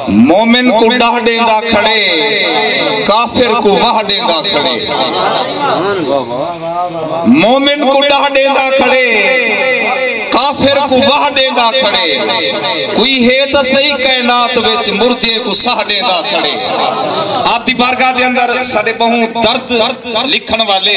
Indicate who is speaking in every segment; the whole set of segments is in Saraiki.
Speaker 1: مومن کو ڈاہ ڈیندا کھڑے کافر کو واہ ڈیندا کھڑے مومن کو ڈاہ ڈیندا کھڑے کافر کو واہ ڈیندا کھڑے کوئی ہے تا صحیح کائنات وچ مردے کو ساہ ڈیندا کھڑے آپ دی بارگاہ دے اندر ساڈے بہوں درد لکھن والے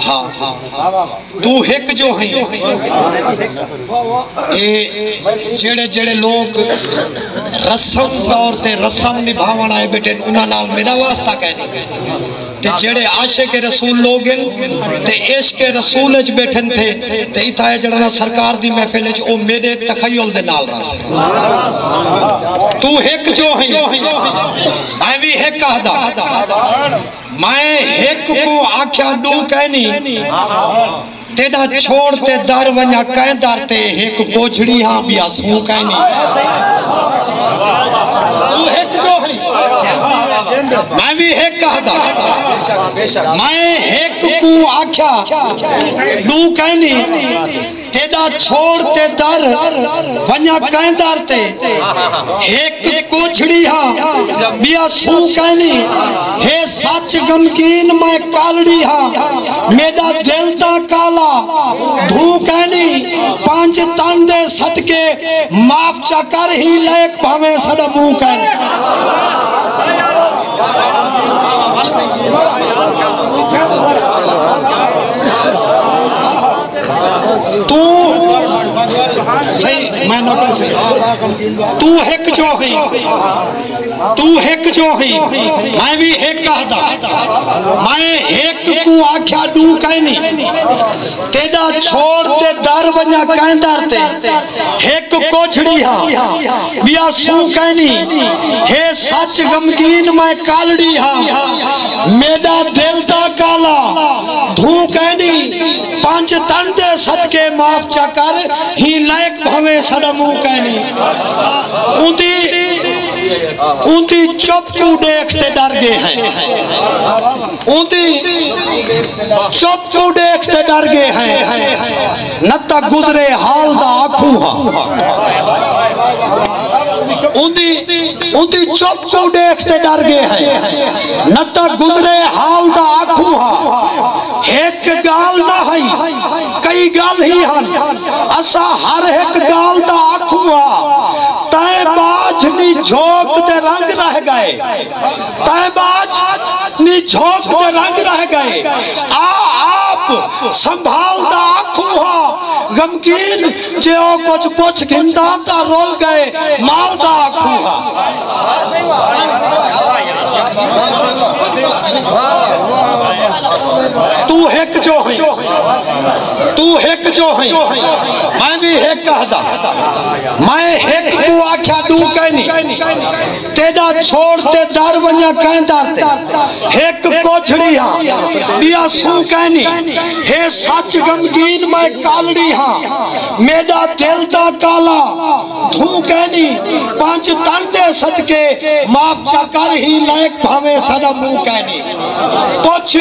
Speaker 2: ہا تو ہک جو ہیں جیڑے جیڑے لوگ رسم دور تے رسم نبھاوان آئے بیٹے انہاں نال میرا واسطہ کہنے گئے تے جیڑے عاشق رسول لوگ ہیں تے عشق رسول اچھ بیٹھن تھے تے اتھا ہے جڑنا سرکار دی محفل اچھ او میرے تخیل دے نال رہا سے تو ہک جو ہیں میں بھی ہک آدھا میں ہک کوں آکھیا ݙو کائنی تیݙا چھوڑ تے در ونڄا کئیں در تے ہک کوجھڑی ہاں ٻیا سوں کائنی توں ہک ݙوہری میں وی ہک ہدا میں ہک کوں آکھیا ݙو کائنی تیݙا چھوڑ تے در ونڄاں کئیں در تے ہک کوچھڑی ہا ٻیا سوں کائنی ہے سچ غمگین میں کالڑی ہا میݙا دل تاں کالا دھوں کائنی پنج تن دے صدقے معاف چا کر ہی لیک بھانویں سݙا منہ کائنی۔ تو ہک جو ہی تو ہک جو ہی میں بھی ہک کہدا میں ہک کو آکھیا دو کہنی تیجا چھوڑ تے در بنیا کہیں در تے ہک کو چھڑی ہا بیا سو کہنی ہے سچ گمگین میں کالڑی ہا میڈا دل دا کالا دھو کینی پانچ تن دے صدقے معاف چا کر ہی لائق بھویں سڑا مو کینی اونتی اونتی چپ کو دیکھ تے ڈر گے ہیں اونتی چپ کو دیکھ تے ڈر گے ہیں نہ تاں گزرے حال دا آکھوں ہاں اندھی چپ کو دیکھ تے ڈر گئے ہیں نہ تاں گزرے حال دا آکھوں ہاں ایک گال نہ ہائی کئی گال ہی ہن اسا ہر ایک گال دا آکھوں ہاں تائیں باجھ نہیں جھوک تے رنگ رہ گئے تیں باج نی جھوک دے رنگ رہ گئے آ آپ سنبھال دا آکھوں ہا غمگین جے او کچھ پچھ گھندا تاں رول گئے مال دا آکھوں ہا تو ہک جو ہیں تو ہک جو ہیں میں بھی ہک کہدا میں ہک کو آکھا دو کہنی تیݙا چھوڑ تے در ونڄاں کئیں در تے ہک کوجھڑی ہاں ٻیا سوں کائنی ہے سچ غمگین میں کالڑی ہاں میݙا دل دا کالا دھوں کائنی پنج تن دے صدقے معاف چا کر ہی لائق بھانویں ساݙا منہ کائنی پچھ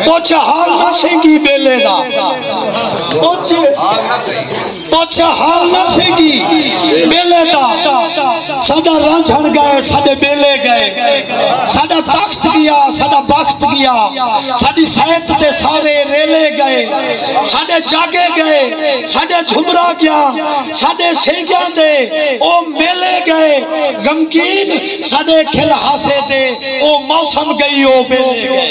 Speaker 2: پچھ حال نہ سئیں گی ٻیلے دا پچھ حال نہ سئیں پچھ حال نہ سیگی بیلے دا ساڈا رانجھن گئے ساڈے بیلے گئے ساڈا تخت گیا ساڈا بخت گیا ساڈی سیت تے سارے ریلے گئے ساڈے جاگے گئے ساڈے جھمرا گیا ساڈے سیگیاں دے او میلے گئے غمگین ساڈے کھل ہاسے دے او موسم گئی او بیلے گئے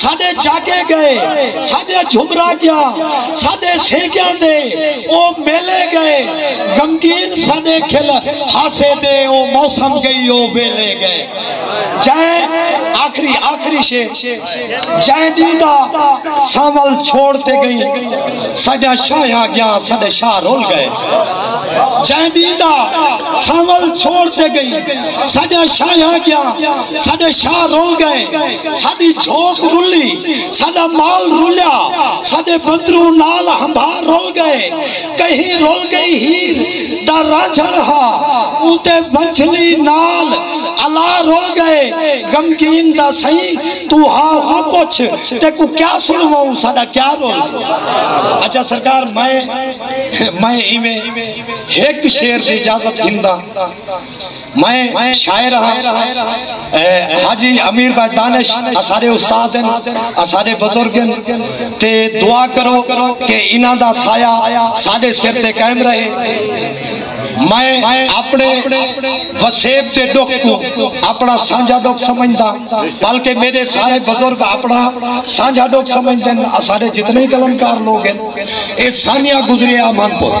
Speaker 2: ساڈے جاگے گئے ساڈے جھمرا گیا ساڈے سیکیاں دے او میلے گئے غمگین ساڈے کھل ہاسے دے او موسم گئی او ویلے گئے جائے آخری آخری شیر جائے دیدہ سامل چھوڑتے گئی ساڈا شاہ آ گیا ساڈے شاہ رول گئے جائے دیدہ سامل چھوڑتے گئی ساڈا شاہ آ گیا ساڈے شاہ رول گئے ساڈی جھوک رلی ساڈا مال رلیا ساڈے بندروں نال ہمبھا رل گئے کہیں رل گئی ہیر دا رانجھن ہا اونتے ونجھلی نال الا رل گئے غمگین دا سئیں تو حال نہ پچھ تیکوں کیا سنواؤں ساڈا کیا رل گیا اچھا سرکار میں میں ایویں ہک شعر دی اجازت گھندا میں شاعر ہاں حاجی امیر بھائی دانش اسارے استاد ہیں اسارے بزرگ ہیں تے دعا کرو کہ انہاں دا سایہ ساڑے سر تے قائم رہے میں اپنے وسیب تے ڈکھ کو اپنا سانجھا ڈکھ سمجھ دا بلکہ میرے سارے بزرگ اپنا سانجھا ڈکھ سمجھ دیں اسارے جتنے کلمکار لوگ ہیں اے سانیہ گزریہ آمان پور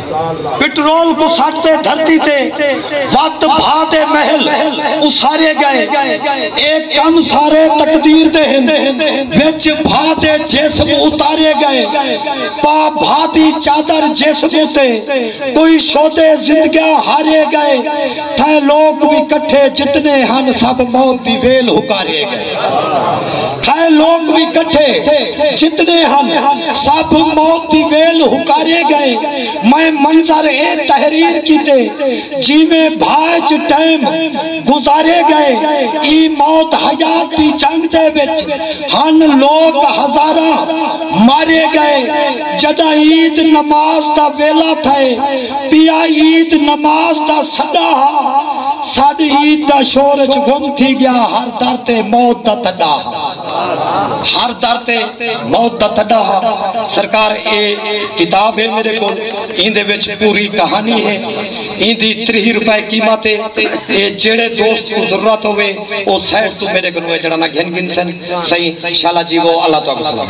Speaker 2: پٹرول کوں سٹ تے دھرتی تے وت بھا تے محل اسارے گئے اے کم سارے تقدیر دے ہن وچ بھا تے جسم اتارے گئے پا بھا دی چادر جسم اتے کوئی شودے زندگاں ہارے گئے تھائیں لوک وی کٹھے جتنے ہن سب موت دی ویل ہکارے گئے۔ تھائے لوگ بھی کٹھے جتنے ہن سب موت دی ویل ہکارے گئے میں منظر اے تحریر کیتے جی میں بھائج ٹائم گزارے گئے ای موت حیات دی جنگ دے بچ ہن لوگ ہزارہ مارے گئے جدہ عید نماز دا ویلہ تھائے پیا عید نماز دا سدہ ہا سادھ عید دا شورج گم تھی گیا ہر در تے موت دا تڈا ہا ہر در تے موت دا تڈا ہا سرکار اے کتاب ہے میرے کو این دے وچ پوری کہانی ہے این دی تریہ روپے قیمت ہے اے جیڑے دوست کو ضرورت ہوئے او سیٹ تو میرے کو نوے جڑانا گھن گھن سن سہی شالا جی وہ اللہ تو اگو سلام